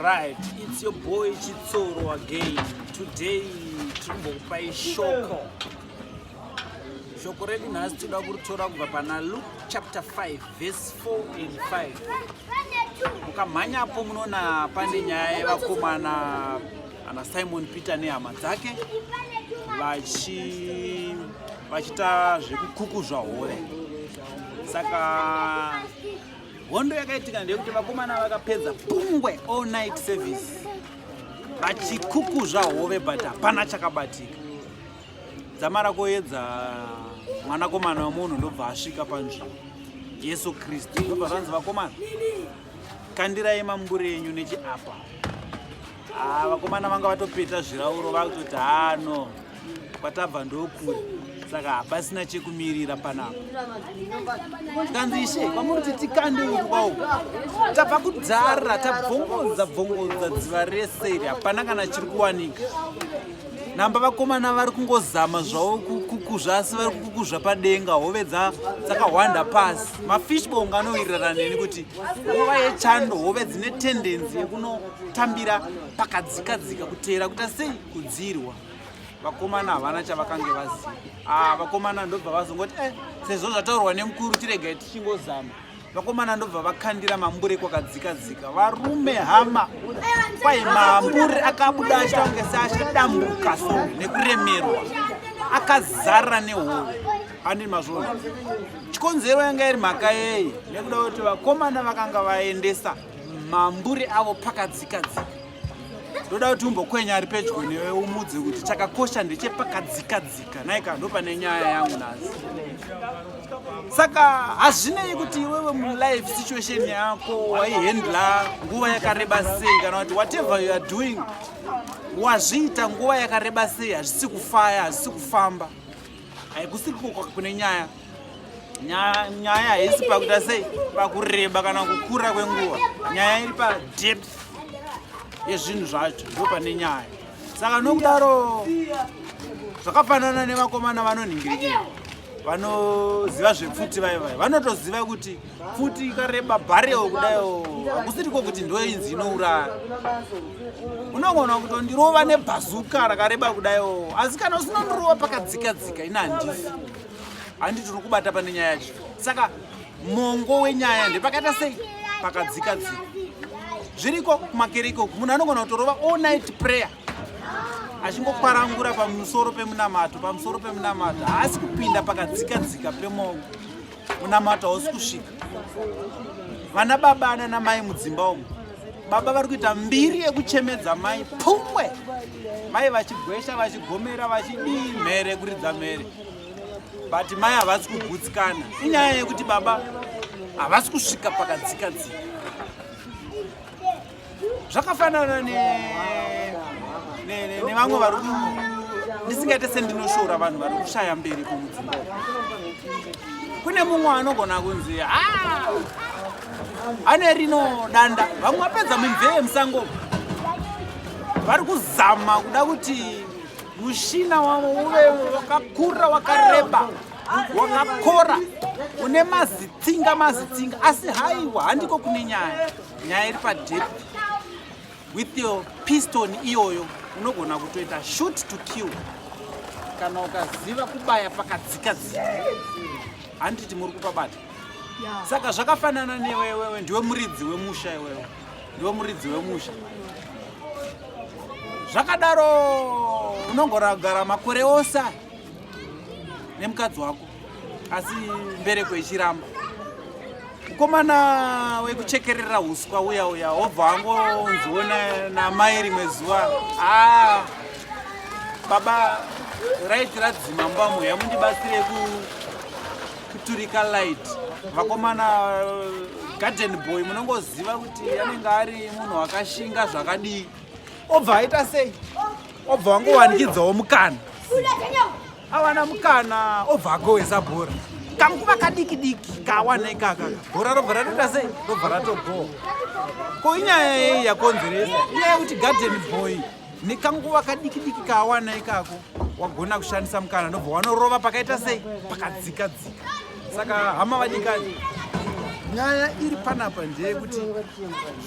Right, it's your boy Chitsoro again. Today, Trumbopai Shoko. Shoko redu nhasi toda kuritora kubva pana Luke chapter 5 verse 4 and 5. Mukamhanyapo munoona pane nyaya yevakomana ana Simon Peter nehama dzake vachi vachita zvekukukuzva hove saka hondo yakaitika ndeyekuti vakomana vakapedza pungwe all night service vachikukuzva hove but hapana chakabatika dzamara koyedza mwanakomana wemunhu ndobva asvika panzvimbo jesu kristu ndobva zvanzi vakomana kandirai mambure enyu nechiapa Ah, vakomana vanga vatopeta zvirauro vakutoti hano kwatabva ndokure saka hapasina chekumirira panapa tikanzi ishe kwamuri kuti tikande uku kwauku tabva kudzara tabvongodza bvongodza dziva rese iri hapana kana chiri kuwanika namba vakomana vari kungozama zvavo kukuzva asi vari kukuzva padenga hove dzakahwanda pasi mafishbong anowirirana neni kuti nguva yechando hove dzine tendenzi yekuno tambira pakadzika dzika kuteera kuita sei kudzirwa vakomana havana chavakange vaziva ah, vakomana ndobva vazongoti e sezvo zvataurwa nemukuru tiregai tichingozama vakomana ndobva vakandira mambure kwakadzika dzika varume hama kwai mambure akabuda achita kunge seachidambuka so nekuremerwa akazara nehoro andini mazvona chikonzero yanga iri mhaka yei nekuda kuti vakomana vakanga vaendesa mambure avo pakadzika dzika ndoda kuti umbokwenya ari pedyo newe umudze kuti chakakosha ndechepakadzika dzika naika ndopane nyaya yangu nhasi saka hazvinei kuti iwewe mulife situation yako waihandla nguva yakareba sei kana kuti whatever you are doing wazviita nguva yakareba sei hazvisi kufaya hazvisi kufamba Haikusiri kukoka kune nyaya. Nyaya nyaya haisi pakuita sei pakureba kana kukura kwenguva. Nyaya iri pa depth yezvinhu zvacho ndo pane nyaya. Saka nokudaro zvakafanana nevakomana vanonhingirikira vanoziva zvepfuti vaye vaye vanotoziva kuti futi ikareba bhareo kudaio hakusiriko kuti ndoinzi inouraya unogona kutondirova nebhazuka rakareba kudaio asi kana usinondirova pakadzika dzika ina handifi handi tiri kubata pane nyaya yacho saka mongo wenyaya ndepakaita sei pakadzika dzika zviriko kumakereke uku munhu anogona kutorova all night prayer achingokwarangura pamusoro pemunamato pamusoro pemunamato haasi kupinda pakadzika dzika pemongo munamato hausi kusvika vana baba nana mai mudzimba umu baba vari kuita mbiri yekuchemedza mai pumwe mai vachigwesha vachigomera vachidii mhere kuridza mhere but mai havasi kugutsikana inyaya yekuti baba havasi kusvika pakadzika dzika zvakafanana nevamwe vari ndisingaite sendinoshora vanhu vari kushaya mberi kumudzimba kune mumwe anogona kunzi ah! ane rino danda vamwe vapedza mimvee musango vari kuzama kuda kuti mushina wavo uve wakakura wakareba wakakora une mazitsinga mazitsinga asi haiwa handiko kune nyaya nyaya iri padep with your piston iyoyo unogona kutoita shoot to kill kana ukaziva kubaya pakadzika dzika handiti muri kupabata saka zvakafanana newewewe ndiwe muridzi wemusha iwewe ndiwe muridzi wemusha zvakadaro unongoragara makore ose nemukadzi wako asi mbereko ichiramba mukomana wekuchekerera uswa uya uya obva angonziona namai rimwe zuva aa ah, baba raiti radzima mbamu yamundibatsire kuturika light vakomana garden boy munongoziva kuti anenge ari munhu wakashinga zvakadii obva aita sei obva wangowanikidzawo mukana awana mukana obva agohwesa bhora kanguva kadiki diki kawana ikaka bhora robva ratoita sei robva ratogoa ko inyaya yei yakonzeresa inyaya yekuti garden boy nekanguva kadiki diki kawana ikako wagona kushandisa mukana ndobva wanorova pakaita sei pakadzika dzika saka hama vadikani nyaya iri panapa ndeyekuti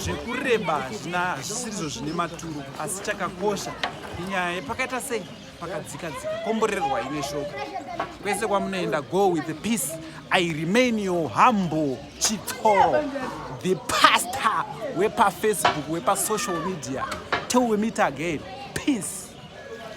zvekureba hazvina hazvisirizvo zvine maturo asi chakakosha inyaya yepakaita sei pakadzika dzika komborerwai neshoko kwese kwamunoenda go with the peace i remain your humble chitsoro the pastor wepafacebook wepasocial media till we meet again peace